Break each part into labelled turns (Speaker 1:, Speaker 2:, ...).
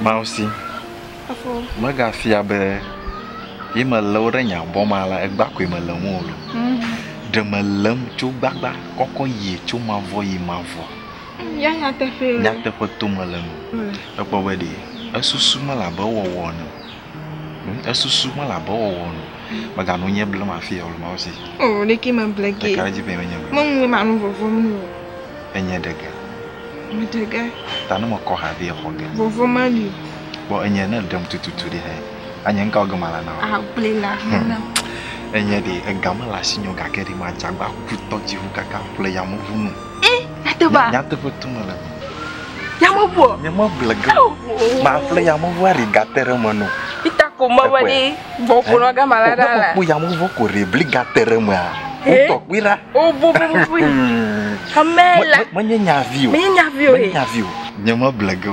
Speaker 1: Mawu si. Efo. Megafia be ye melé wo ɖe nya bɔ ma la egba koe mele ŋu o lo. Ɖe melém tso gbagba kɔkɔ yi tso mavɔ yi mavɔ. Ya nyateƒee. Nyateƒe to mele nu. Ekpɔ be ɖee esusu mele abe ewɔwɔ ene o. Esusu mele abe ewɔwɔ nu. Mega nu nye blema afi ya o le Mawu si. O oh, ɖeke me ble ge. Ɖeka dzi be menye ble. Meŋue ma nu vovo nu o. Enye ɖe ge. Me ɖe ge. Ta ne mekɔ ha be exɔ ge. Vovo ma li. Bɔ enye ne ɖem tututu ɖe hɛ. Anye ŋka oge mala na o. Agble la hena. Enye ɖe ega mele asi nyo gake ɖe madzagba kutɔ dziŋu kaka ƒle yameʋu nu. Eh, nyateƒea. Nyateƒe tum le me. Yameʋu. Yameʋu le gã. Maƒle yameʋu ari gate ɖe me nɔ. Ita ko mewɔ ɖi gbɔƒo nɔ gama la ɖa la. Ko yameʋu ko ɖe bli gate ɖe mea. Wotɔ kpui ɖa. O bo bo bo. Ame la. Menye nyavi o. Menye nyavi o. Menye nyavi o. Nyameʋu le gã.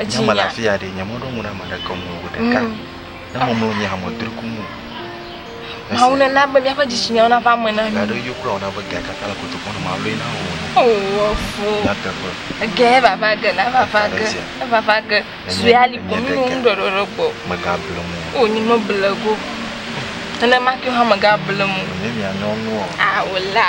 Speaker 1: Edzi nya. Afia ɖe nye mɔɖo ŋu na ame aɖeke ŋu o ɖeka. Mm. Ne mɔmlɔ nye hame dri ku mu. Mawu ne na be míaƒe dzitsinya na va me na mi. Gaɖo yo kura ona be gɛ kaka le koto kɔnɔ ma lɔe na wo. Oh, fo. Na teƒe. Gɛ vava ge na vava ge. Vava ge. Sue ali ko mi no ŋu ɖɔɖɔ ɖe gbɔ. Mega ble mu. O nyi me ble go. Ene ma ke hame ga ble mu. Ne mia nyɔnu. Ah, wala.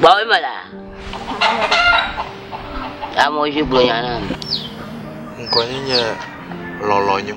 Speaker 1: Gbɔwò me la. Amewo dzi gblɔ nya na mi. Ŋkɔ nye nye lɔlɔ̃nyo.